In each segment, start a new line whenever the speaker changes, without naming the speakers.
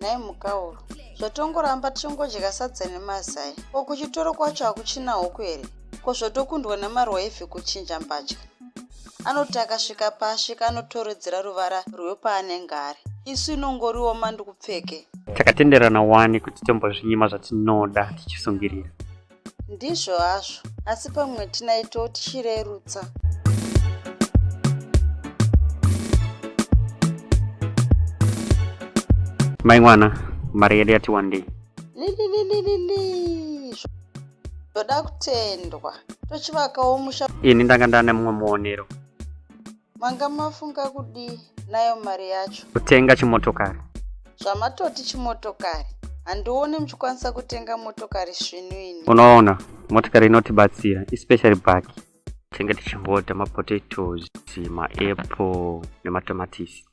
nhai mhukahuru zvatongoramba tichingodya sadza nemazai ko kuchitoro kwacho hakuchina huku here ko zvotokundwa nemarwaivhi kuchinja mbatya anoti akasvika paasvika anotoredzera ruvara rwepaanenge ari isu inongoriwo mandikupfeke takatenderana
wani kuti tombozvinyima zvatinoda tichisungirira Ndizvo
hazvo, asi pamwe tinaito tichirerutsa.
Mai mwana, mari yedu yati wandei. Lililililili.
Ndoda kutendwa. Tochivakawo musha. Ini ndanga ndane mumwe
muonero. manga
mafunga kudii nayo mari yacho kutenga chimotokari
zvamatoti
chimotokari handione muchikwanisa kutenga motokari svinu ini unoona motokari
inotibatsira especially baki tenge tichingoda mapotatoes maapple nematomatisi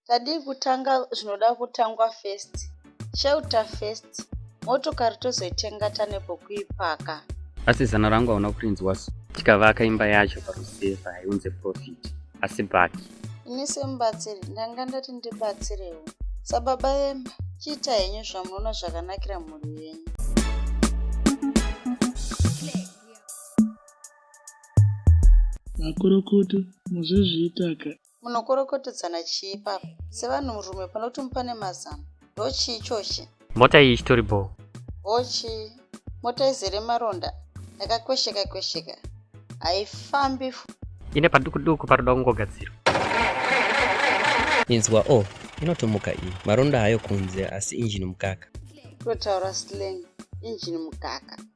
Tadii
kutanga zvinoda kutangwa first. Shelter first. Motokari tozoitenga tane pokuipaka. Asi zano
rangu hauna kurinzwa so. Tikavaka imba yacho paruseva haiunze profit. Asi baki. Ini semubatsiri
ndanga ndati ndibatsirewo. Sababa vemba chiita henyu zvamunoona zvakanakira mhuri yenyu.
Makurukute muzozviitaka Munokorokotedzana
chii ipapo sevanhurume panoti mupane mazano? Ndo chii chochi? Mota iyi ichitori
bhoo. Bhoo chii?
Mota izere maronda yakakwesheka kwesheka haifambi. Ine
paduku duku paroda kungogadzirwa.
Inzwa o oh, inotomuka iyi. Maronda hayo kunze asi injini mukaka. Totaura
slang injini mukaka.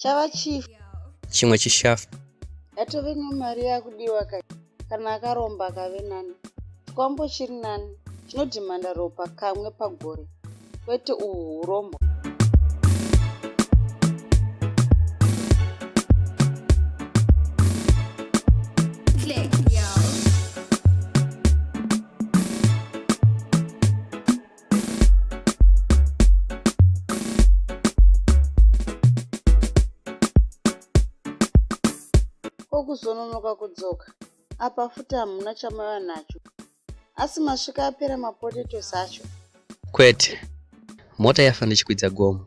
chava chief chimwe chishafu
atove
nemari yakudiwa ka kana akaromba akave nani chikwambo chiri nani chinodhimanda ropa kamwe pagore kwete uhu urombo kuzononoka kudzoka apa futi hamuna chamava nacho asi masvika apera mapotatoes acho kwete
mota yafa ndichikwidza gomo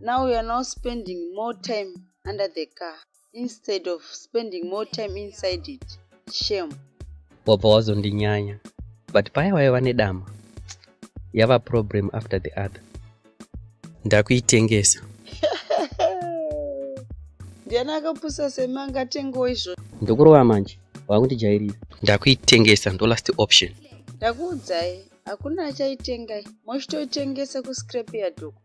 Now you are now spending more time under the car instead of spending more time inside it. Shame. Wabva
wazondinyanya. But paya waiva vane dama. Yava problem after the other. Ndakuitengesa.
Ndiani akapusa sema angatengawo izvo. Ndokurova manje.
Wakundijairira. Ndakuitengesa ndo last option. Ndakuudzai
hakuna achaitengai. Mochitoitengesa kuscrap yadoko.